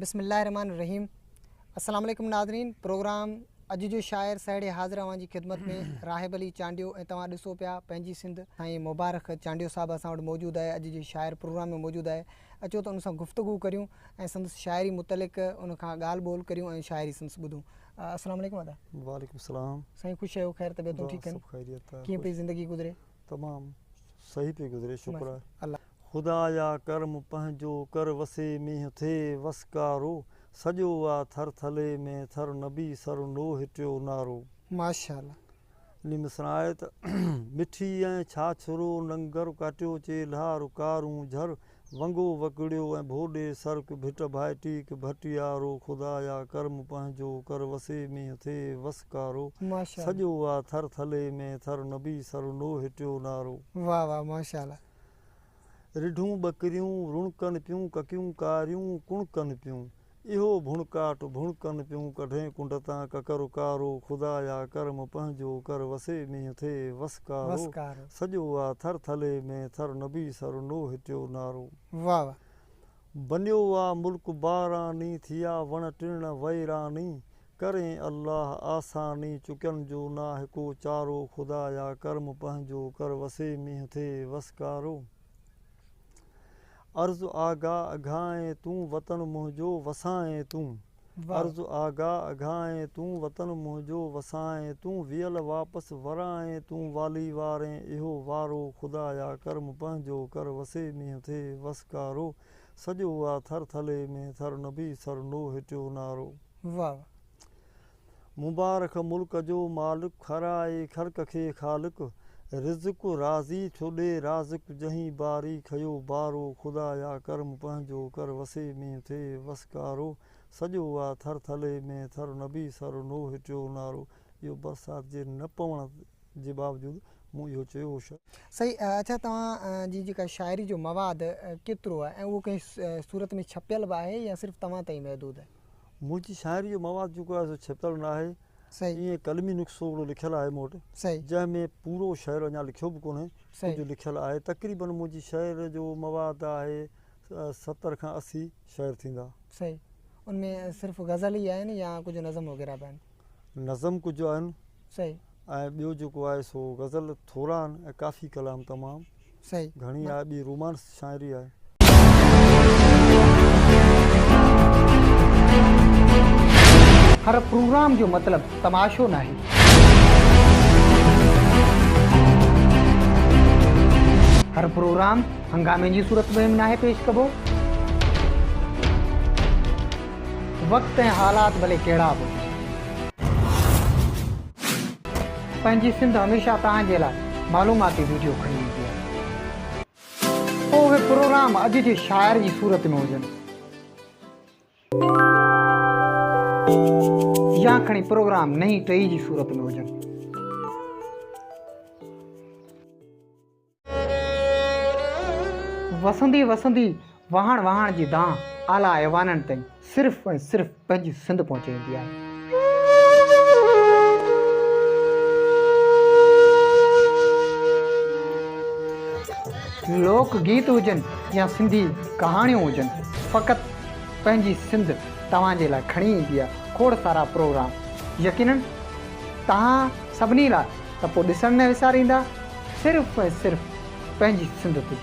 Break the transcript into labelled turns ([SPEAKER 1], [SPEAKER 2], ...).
[SPEAKER 1] بسم الله الرحمن الرحيم السلام عليڪم ناظرين پروگرام اڄ جو شاعر سهڙي حاضر اوهان جي خدمت ۾ راهب علي چانڊيو ۽ توهان ڏسو پيا پنهنجي سنڌ سائين مبارڪ چانڊيو صاحب اسان وٽ موجود آهي اڄ جو شاعر پروگرام ۾ موجود آهي اچو ته ان سان گفتگو ڪريون ۽ سندس شاعري متعلق ان کان ڳالهه ٻولهه ڪريون ۽ شاعري سندس ٻڌون السلام عليڪم ادا وعليڪم السلام
[SPEAKER 2] سائين خوش آهيو خير
[SPEAKER 1] طبيعتون ٺيڪ آهن ڪيئن پئي زندگي گذري تمام
[SPEAKER 2] صحيح پئي گذري شڪر آهي. خدايا ڪرم پنهنجو ڪر وسي مينهن ٿئي وسڪارو سڄو آ ٿر ٿلي ۾ ٿر نبي سر نوح ٽيو نارو. ماشاءالله.
[SPEAKER 1] علي مصرع آهي
[SPEAKER 2] ته مٺي ۽ ڇاڇرو ننگر ڪاٽيو چيلها رڪارون جھر ونگو وڪڙيو ۽ ڀوڏي سرڪ ڀٽ ڀائي ٽيڪ ڀٽيارو خدايا ڪرم پنهنجو ڪر وسي مينهن ٿئي وسڪارو ماشاءالله. سڄو آ ٿر ٿلي ۾ ٿر نبي سر نوح ٽيو نارو. واھ واھ ماشاءالله. رڍون ٻڪريون رڻڪن پيون ڪڪيون ڪاريون ڪڻڪن پيون. اهو ڀڻڪاٽ ڀڻڪن پيون ڪڍين ڪنڊ تان ڪڪر ڪارو خدايا ڪرم پنهنجو ڪر وسي مينهن ٿئي وس ڪارو سڄو آ ٿر ٿلهي ۾ ٿر نبي سر نوح ٽيو نارو
[SPEAKER 1] بنيو
[SPEAKER 2] آ ملڪ باراني ٿيا وڻ ٽڻ ويراني ڪرين الله آساني چڪن جو ناهي ڪو چارو خدايا ڪرم پنهنجو ڪر وسي مينهن ٿئي وس ڪارو. عرض آغا اگهانئين تون وطن منهنجو وسانئين تون عرض آغا اگهانئين تون وطن منهنجو وسانئين تون ويل واپس ورانئين تون والي وارين اهو وارو خدايا ڪرم پنهنجو ڪر وسي مينهن ٿئي وس ڪارو سڄو آ ٿر ٿلي ۾ ٿر نبي سر نوح ٽيو نارو. واھ واھ مبارڪ ملڪ جو مالڪ، کارائي خلق کي خالق، رزق رازي ٿو ڏي رازق، جنهين باري کيو بارو، خدايا ڪرم پنهنجو ڪر، وسي ۾ ٿئي وسڪارو، سڄو آ ٿر ٿلهي ۾ ٿر، نبي سر نوح ٽيو نارو، اهو برسات جي نه پوڻ جي باوجود مون اهو چيو هو. سائين اڇا
[SPEAKER 1] توهان جي جيڪا شاعري جو مواد ڪيترو آهي ۽ اهو ڪنهن صورت ۾ ڇپيل به آهي يا صرف توهان تائين محدود آهي؟ منهنجي شاعري جو
[SPEAKER 2] مواد جيڪو آهي سو ڇپيل نه آهي. ائين قلمي
[SPEAKER 1] نسخو
[SPEAKER 2] هڪڙو لکيل آهي مون وٽ، جنهن ۾
[SPEAKER 1] پورو
[SPEAKER 2] شعر اڃا لکيو به ڪونهي، ڪجهه لکيل آهي. تقريبن منهنجي شعر جو مواد آهي ستر کان اسي شعر ٿيندا. صحيح. ان
[SPEAKER 1] ۾ صرف غزل ئي آهن يا ڪجهه نظم وغيره به آهن؟ نظم ڪجهه
[SPEAKER 2] آهن صحيح ۽
[SPEAKER 1] ٻيو جيڪو
[SPEAKER 2] آهي سو غزل ٿورا آهن ۽ ڪافي ڪلام تمام صحيح گهڻي
[SPEAKER 1] آهي ٻي رومانس
[SPEAKER 2] شاعري آهي
[SPEAKER 1] هر پروگرام جو مطلب تماشو ناهي. هر پروگرام هنگامي جي صورت ۾ به ناهي پيش ڪبو. وقت ۽ حالات ڀلي ڪهڙا به هجن. پنهنجي سنڌ هميشه توهان جي لاء معلوماتي ويڊيو کڻي ايندي آهي. پوء اهي پروگرام اڄ جي شاعر جي صورت ۾ هجن يا کڻي پروگرام نئين ٽهي جي صورت ۾ هجن. وسندي وسندي وهاڻ وهاڻ جي دانهن اعليٰ ايوانن تائين صرف ۽ صرف پنهنجي سنڌ پهچي ويندي آهي. لوڪ گيت هجن يا سنڌي ڪهاڻيون هجن فقط پنهنجي سنڌ توهان جي لاء کڻي ايندي آهي کوڙ سارا پروگرام يقينن توهان سڀني لاء ته پوء ڏسڻ نه وساريندا صرف ۽ صرف پنهنجي سنڌ تي.